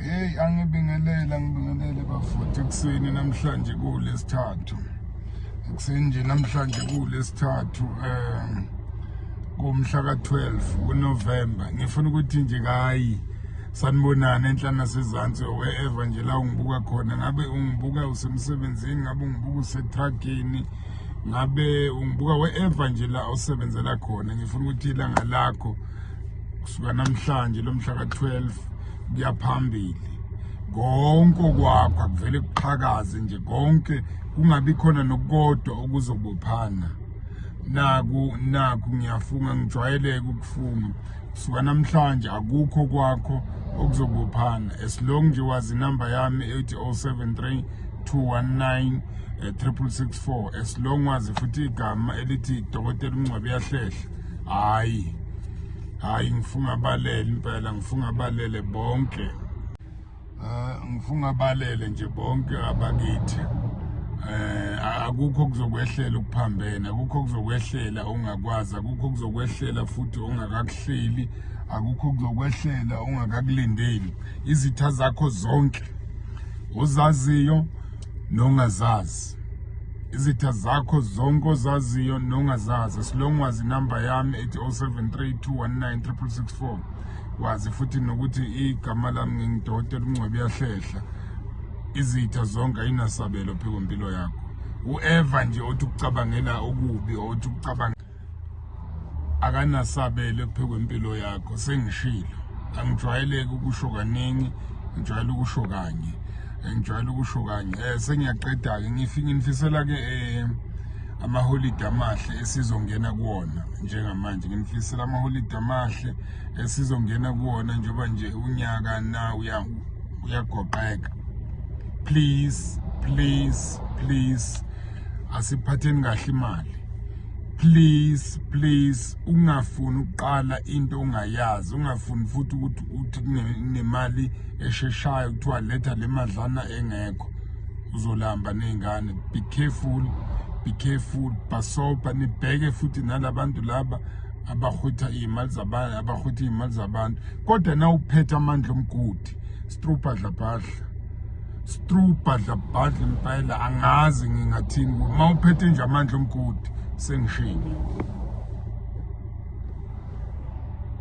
Hey angibingelele angibingelele bafuthi ekuseni namhlanje kulesithathu. Ekuseni nje namhlanje kulesithathu eh kumhla ka12 kuNovember. Ngifuna ukuthi nje kayi sanibonana enhlana sezantsi wherever nje la ungibuka khona ngabe ungibuka usemsebenzini ngabe ungibuka usetruckini ngabe ungibuka wherever nje la osebenzela khona ngifuna ukuthi ilanga lakho kusuka namhlanje lomhla ka-12 kuyaphambili konke okwakho akuvele kuqhakaze nje konke kungabi khona nokukodwa okuzobophana naku naku ngiyafunga ngijwayeleke ukufunga kusuka namhlanje akukho kwakho okuzobophana as long nje wazi inamba yami ethi 073 219 3664 as long wazi futhi igama elithi dokotela umngcwabe yahlehla hayi hayi ngifunga balele impela ngifunga balele bonke ah, ngifunga balele nje bonke abakithi eh akukho kuzokwehlela ukuphambene akukho kuzokwehlela ungakwazi akukho kuzokwehlela futhi ongakakuhleli akukho kuzokwehlela ongakakulindeli izitha zakho zonke ozaziyo nongazazi izitha zakho zonke ozaziyo nongazazi silong wazi inumber yami ethi 0732196664 wazi futhi nokuthi igama lami ngingidokotela uncwebi yahlehla izitha zonke ayinasabelo phiko mpilo yakho ueva nje othi ukucabangela okubi othi ukucabanga akanasabelo ekuphekwe impilo yakho sengishilo angijwayeleki ukusho kaningi ngijwayele ukusho kanye ngijwayele ukusho kanye um sengiyaqeda-ke nginifisela-ke um amaholidi amahle esizongena kuwona njengamanje nginifisela amaholidi amahle esizongena kuwona njengoba nje unyaka na uyagoqeka please please please asiphatheni kahle imali please please ungafuni ukuqala into ongayazi ungafuni futhi ukuthi uthi kunemali esheshayo kuthiwa letha le madlana engekho uzolamba ney'ngane be careful be careful bhasobha nibheke futhi nalabantu laba abahwitha iy'mali zabantu abahwitha iy'mali zabantu kodwa na uphethe amandla omgodi strubhadlabhadla strubhadlabhadla impela angazi ngingathini uma uphethe nje amandla omgodi sengishini